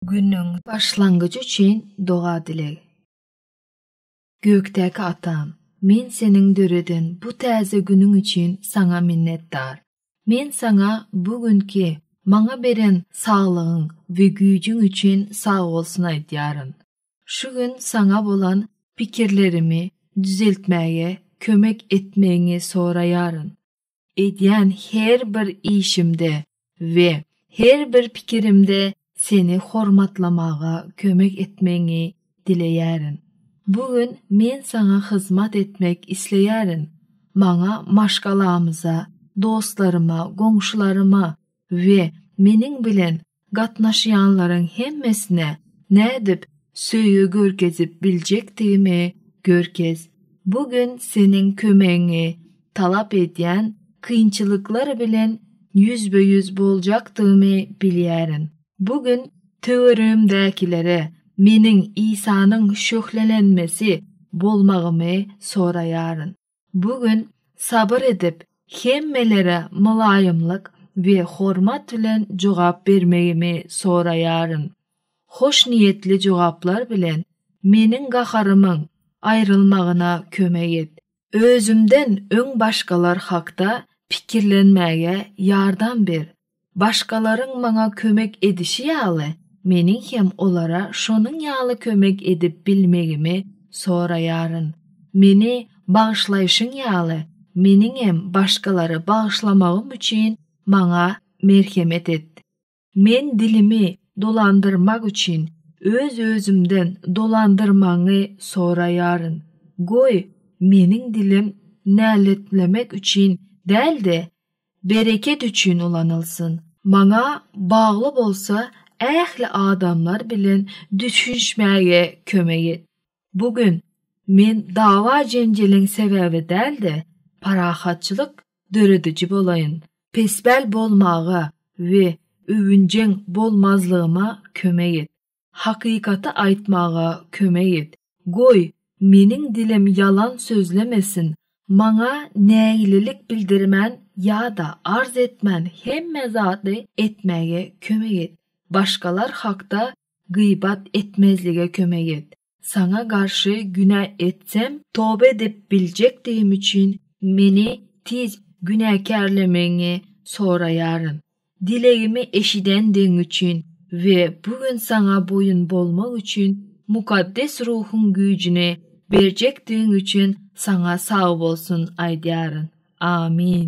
Günüň başlangyjy üçin doga-dileg. Gökdäki Atam, men seniň döreden bu täze günüň üçin saňa minnetdar. Men saňa bu günki maňa beren saglygyň we güýjüň üçin sagbolsun aýdýaryn. Şu gün saňa bolan pikirlerimi düzeltmäge kömek etmegiňi soraýaryn. Edýän her bir işimde we her bir pikirimde seni hormatlamaga kömek etmegiňi dileýärin. Bu gün men saňa hyzmat etmek isleýärin. Maňa maşgalamyza, dostlaryma, goňşularyma we meniň bilen gatnaşýanlaryň hemmesine nädip söýgi görkezip biljekdigimi görkez. Bu gün seniň kömegiňi talap edýän kynçylyklar bilen ýüzbe-ýüz boljakdygymy bilýärin. Bu gün töweregimdäkilere meniň Isanyň şöhlelenmesi bolmagymy soraýaryn. Bu gün sabyr edip, hemmelere mylaýymlyk we hormat bilen jogap bermegimi soraýaryn. Hoşniýetli jogaplar bilen meniň gaharymyň aýrylmagyna kömek et. Özümden öň başgalar hakda pikirlenmäge ýardam ber. Başgalaryň maňa kömek edişi ýaly, meniň hem olara şonuň ýaly kömek edip bilmegimi soraýaryn. Meni bagyşlaýşyň ýaly, meniňem başgalary bagyşlamagym üçin maňa merhemet et. Men dilimi dolandyrmak üçin öz-özümden dolandyrmagyňy soraýaryn. Goý, meniň dilim näletlemek üçin däl-de, Bereket üçin ulanylsyn. Maňa bagly bolsa ähli adamlar bilen düşünişmäge kömek et. Bu gün men dawa-jenjeliň sebäbi däl-de, parahatçylyk dörediji bolaýyn. Pespäl bolmaga we öwünjeň bolmazlygyma kömek et. Hakykaty aýtmaga kömek et, goý, meniň dilim ýalan sözlemesin, maňa nägilelik bildirmän ýa-da arz etmän hemme zady etmäge kömek et, başgalar hakda gybat etmezlige kömek et. Saňa garşy günä etsem, toba edip biljekdigim üçin meni tiz günäkärlemegiňi soraýaryn. Dilegimi eşidendigiň üçin we bu gün saňa boýun bolmak üçin Mukaddes Ruhuň güýjüni berjekdigiň üçin saňa sagbolsun aýdýaryn. Amin.